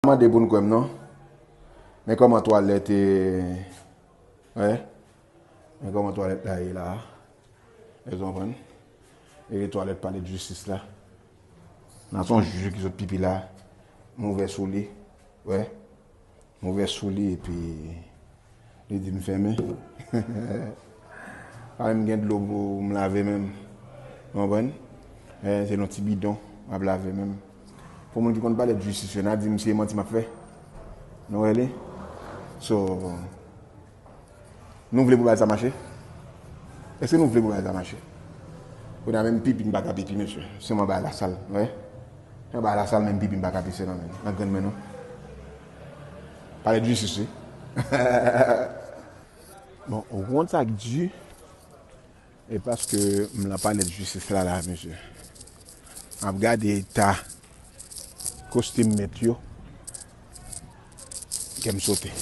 pa mande pou n kwè m non Men kòman twalèt e Wè Men kòman twalèt la ye la Èske w konprann E twalèt pale de jistis la Nan son jije ki sot pipi la Move sou li Wè Move sou li epi Li di m fèmen. Pa menm gen dlo pou m lave menm. Ou konprann? Men se nan ti bidon m ap lave menm. Pou moun ki konn pale de jistis yo, n a di misye manti m ap fè. Nou wè li? So, nou vle pou bagay sa mache? Èske nou vle pou bagay sa mache? Kounye a menm pipi m pa ka pipi mesye. Sèlman bay lasal. Ou wè? Mwen bay lasal menm pipi m pa ka pise nan grenn men non. Pale de justice wi. Bon ou konn sak di e paske m lan pale de justice la la mesye. Map gade eta kostim met yo kèm sote.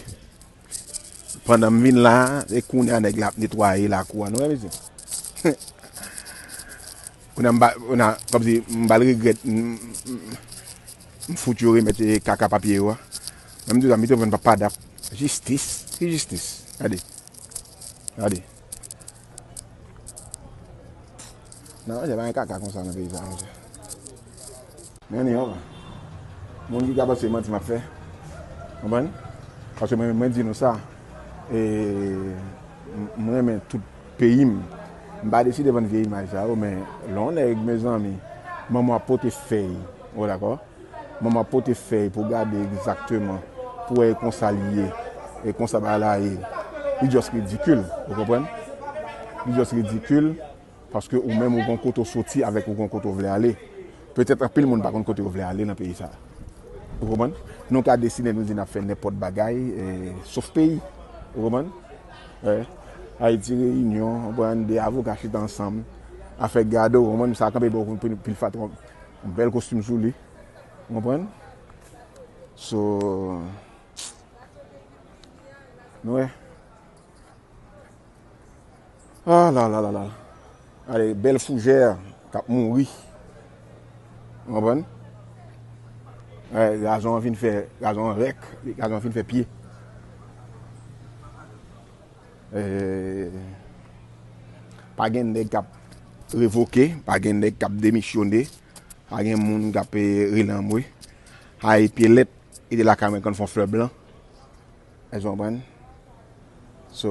Pandan m vin la a, se kounye a nèg la ap netwaye lakou a nou wè mesye. Kounye a m ba kounye a kòmsi m ba l regrèt m fout yo remèt kaka papye yo a. Mwen m di w sa Beethoven pa padap. Jistis? Ki jistis? Gade. Gade. Nan manje pa gen kaka konsa nan peyi sa manje. Mwen ni yon. Moun ki ka panse se manti map fè. Konprann? Paske mwen mwen di nou sa. E mwen renmen tout peyi m. M pa deside vann vye imaj sa yo men lè yon nèg mezanmi manman w ap pote fèy. Ou dakò? Manman pote fèy pou gade egzakteman pou wè e konsa li ye, e konsa bagay la ye. Li just ridikil, ou konprann? Li just ridikil paske ou menm ou gon kote w soti avèk ou gon kote w vle ale. Petèt anpil moun pa konn kote yo vle ale nan peyi sa a. Ou konprann? Nou ka deside nou di n ap fè nenpòt bagay sof peyi. Ou konprann? Ayiti reyinyon, ou konprann, 2 avoka chita ansanm, afè gad, ou konprann, sa kanpe bò kote pil fatra. Yon bèl kostim sou li ou konprann so nou wè ah lalalala gade bèl fougè kap mouri ou konprann gade gazon an fin fè gazon an rèk gazon an fin fè pye. Pa gen nèg kap revoke, pa gen nèg kap demisyone, pa gen moun kap rele anmwe. Hay pye lèt rete lakay mwen konn fon flè blan. Èske w konprann? So.